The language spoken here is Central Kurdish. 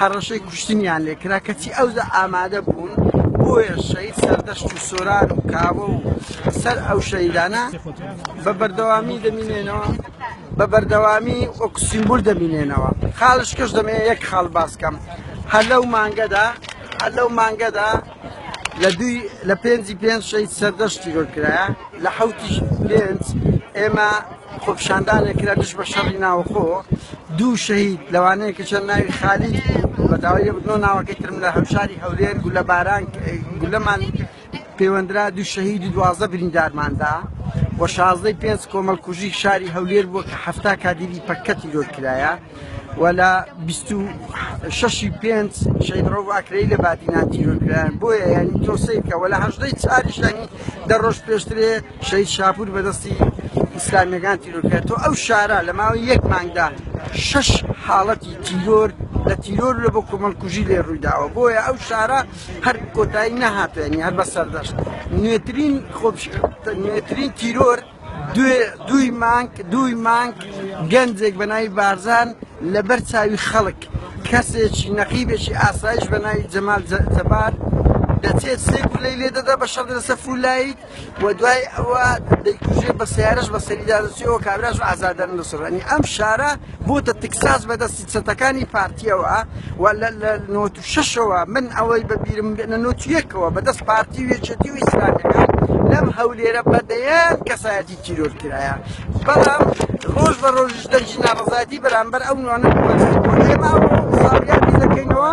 هەڕەشەی کوشتنیان لێ کرا کەچی ئەوجا ئامادە بوون بۆیە شەید سەردەشت و سۆران و کاوە و سەر ئەو شەیدانە بە بەردەوامی دەمینێنەوە بە بەردەوامی وەک سیمبول دەمینێنەوە خاڵش کەش دەمێ یەک خاڵ باسکەم هەر لەو مانگەدا هەر لەو مانگەدا لە دووی لە پێنجی پێنج شەید سەردەشت تیرۆر کرایە لە حوتی پێنج ئێمە خۆپشاندانێک کرا دژ بە شەڕی ناوخۆ دوو شەهید لەوانەیە کە چەند ناوی خالید بوو بە داوای بنۆ ناوەکەی ترم لە هەوشاری هەولێر گولە باران گولەمان پەیوەندرا دوو شەهید و دوازدە بریندارماندا و شازدەی پێنج کۆمەڵکوژی شاری هەولێر بووە کە هەفتا کادیری پەکەتی لۆر کرایە و لە بیست و شەش ی پێنج شەهید ڕەوف ئاکرەیی لە بادینان تیرۆر کرایان بۆیە یانی تۆسەی بکە و لە هەژدە ی چار یش یانی دە ڕۆژ پێشترێ شەهید شاپوور بە دەستی ئیسلامیەکان تیرۆر کرا تۆ ئەو شارە لە ماوەی یەک مانگدا شەش حاڵەتی تیرۆر لە تیرۆر لە بۆ کۆمەڵکوژی لێ ڕوویداوە بۆیە ئەو شارە هەر کۆتایی نەهاتوێنی هەر بە سەردەشت نوێترین خۆپش نوێترین تیرۆر دووی مانگ دووی مانگ گەنجێک بە ناوی بارزان لەبەر چاوی خەڵک کەسێکی نەقیبێکی ئاسایش بە ناوی جەمال جەبار دەچێت سێ گولەی لێ دەدا بە شەڕ لەسەر فولایت و دوای ئەوە دەیکوژێ بە سیارش بە سەریدا دەچێەوە کابراش ئازادانە دەسڕێنی ئەم شارە بۆتە تکساس بەدەستی چەتەکانی پارتیەوە و لە نۆت و شەشەوە من ئەوەی بە بیرم بێنە نۆت یەکەوە بەدەست پارتی و یەکێتی و ئیسلامیەکان لەم هەولێرە بەدەیان کەسایەتی تیرۆر کرایە بەڵام ڕۆژ بە ڕۆژش دەنجی ناڕزایەتی بەرامبەر ئەو نوانە ئێمە ساڵیادی دەکەینەوە